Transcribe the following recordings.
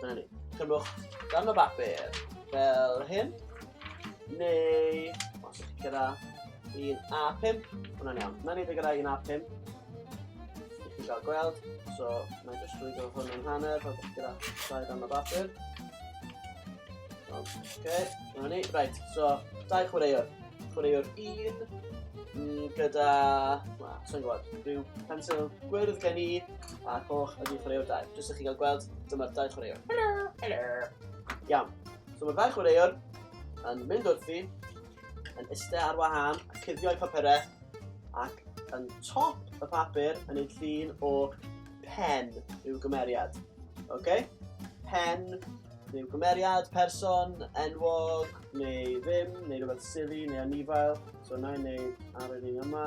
Dyna ni. Cymwch dan o bapur fel hyn. Neu, os ydych gyda un A5, hwnna'n iawn. Mae'n edrych gyda un A5. Ydych chi'n cael gweld. So, mae'n just rwy'n gwybod hwn yn hanner, pan ydych gyda dau dan o bapur. Oce, dyna ni. Right, so, dau chwaraewr. Chwaraewr un, mm, gyda, na, sy'n gwybod, rhyw pensil gwyrdd gen i, A coch ydy chwaraewr dau. Jyst i chi gael gweld, dyma'r dau chwaraewr. Helo! Helo! Iawn. So mae'r dau chwaraewr yn mynd wrthi, yn iste ar wahân, a cuddio'i papurau, ac yn top y papur yn ei llun o pen i'w gymeriad. Oce? Okay? Pen neu gymeriad, person, enwog, neu ddim, neu rhywbeth silly, neu anifail. So na i wneud ar yr un yma.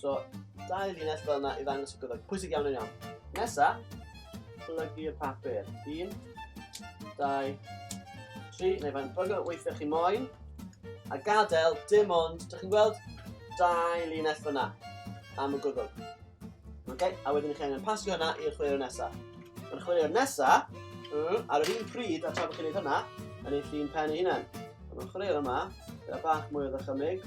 So, dau linell fel yna i ddangos y goddau. Pwysig iawn yn iawn. Nesa, plygu'r papur. Un, dau, tri, neu fain bygol weithiau chi moyn. A gadael dim ond, dych chi'n gweld, dau linell fyna am y gwddwg. Okay? A wedyn chi angen pasio hynna i'r chwilio nesaf. Mae'r chwilio nesaf, mm, ar yr un pryd a tra bod chi'n gwneud hynna, yn eich llun pen ei hunain. Mae'r chwilio yma, gyda bach mwy o ddychymig,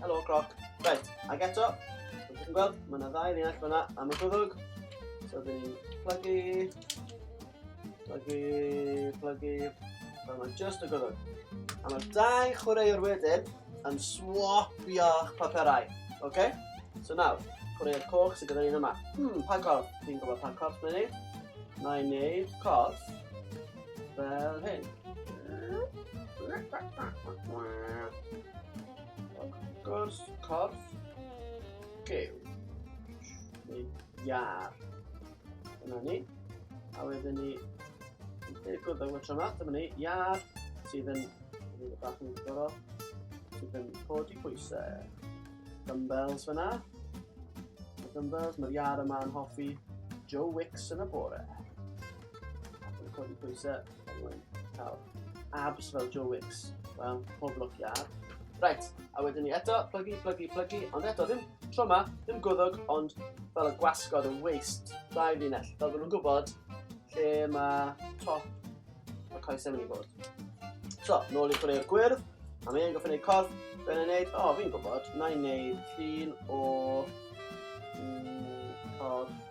Helo, croc. Right, ac eto, fel chi'n gweld, mae yna ddau linell fyna am y gwddwg. So, dyn ni'n plygu, plygu, plygu, fel mae just y gwddwg. A mae'r dau chwaraewr wedyn yn swapio'ch paperau, oce? Okay? So nawr, chwaraewr coch sydd gyda ni'n yma. Hmm, pa corff? Fi'n gwybod pa corff mae'n ei. Mae'n ei corff. Fel hyn. Gwrs, corff, gew. Neu iar. Dyna ni. A wedyn ni... Gwrdd â'r wytro yma, dyma ni, iar, sydd yn... Dyna ni, bach yn gorau. Sydd yn codi pwysau. Dumbbells fyna. Dumbbells, mae'r iar yma yn hoffi Joe Wicks yn y bore. Dwi'n codi pwysau, dwi'n cael abs fel Joe Wicks. Wel, pob lwc i ar. Right, a wedyn ni eto, plygu, plygu, plygu, ond eto ddim tro yma, ddim gwddog, ond fel y gwasgod yn waist, dau linell, fel bod nhw'n gwybod lle mae top y coesau mynd i bod. So, nôl i chwarae'r gwyrdd, a mae e'n gofyn ei corff, fe'n ei wneud, o, oh, fi'n gwybod, na i wneud llun o mm, corff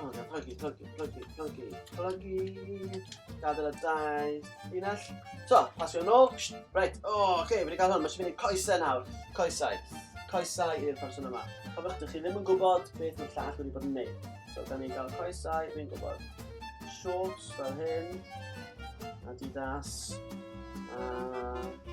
Oh, yeah, plygu, plygu, plygu, plygu, plygu. Gadael y dau. Unell. So, pasio yn ôl. Reit, o, oh, oce, okay, wedi cael hwn. Mae eisiau mynd i coesau nawr. Coesau. Coesau i'r person yma. Cofiwch, dych chi ddim yn gwybod beth mae'r llall wedi bod yn neud. So, da ni'n cael coesau, fi'n gwybod. Shorts fel hyn. Adidas. Uh,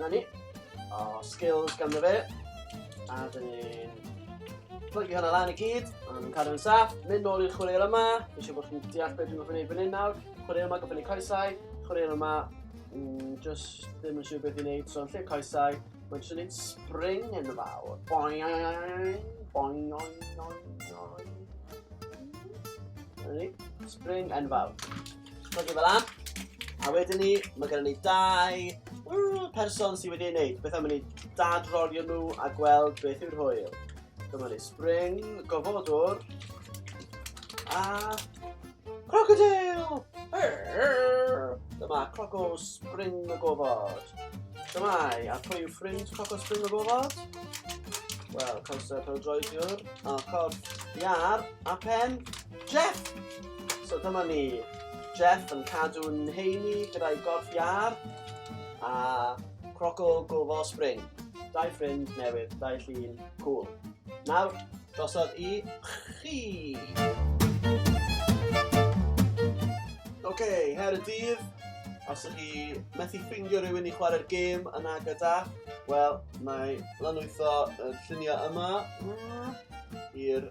Na ni. O, skills ganddo fe. A dyn ni'n plygu hwnna lan i gyd, a nhw'n cadw'n saff, mynd nôl i'r chwaraeon yma, fi eisiau bod chi'n deall beth dwi'n gofyn ei fyny nawr, chwaraeon yma gofyn ei coesau, chwaraeon yma, mm, just ddim yn siŵr beth i'n neud, so yn lle coesau, mae'n siŵr neud spring yn y fawr. Boing, boing, boing, boing, boing. Spring yn fawr. Codi fel lan. A wedyn ni, mae gennym ni dau person sydd wedi ei wneud. Beth am i ni dadrorio nhw a gweld beth yw'r hwyl. Dyma ni spring, gofodwr, a crocodile! Dyma croco spring y gofod. Dyma i, a pwy yw ffrind croco spring y gofod? Wel, cawsau pêl-droediwr, a corff iar, a pen, Jeff! So dyma ni, Jeff yn cadw'n heini gyda'i gorff iar a croco gofal spring. Dau ffrind newydd, dau llun, cool. Nawr, drosodd i chi! Oce, okay, her y dydd, os ydych chi methu ffeindio rhywun i chwarae'r gêm yna gyda, wel, mae lanwytho y lluniau yma mm, i'r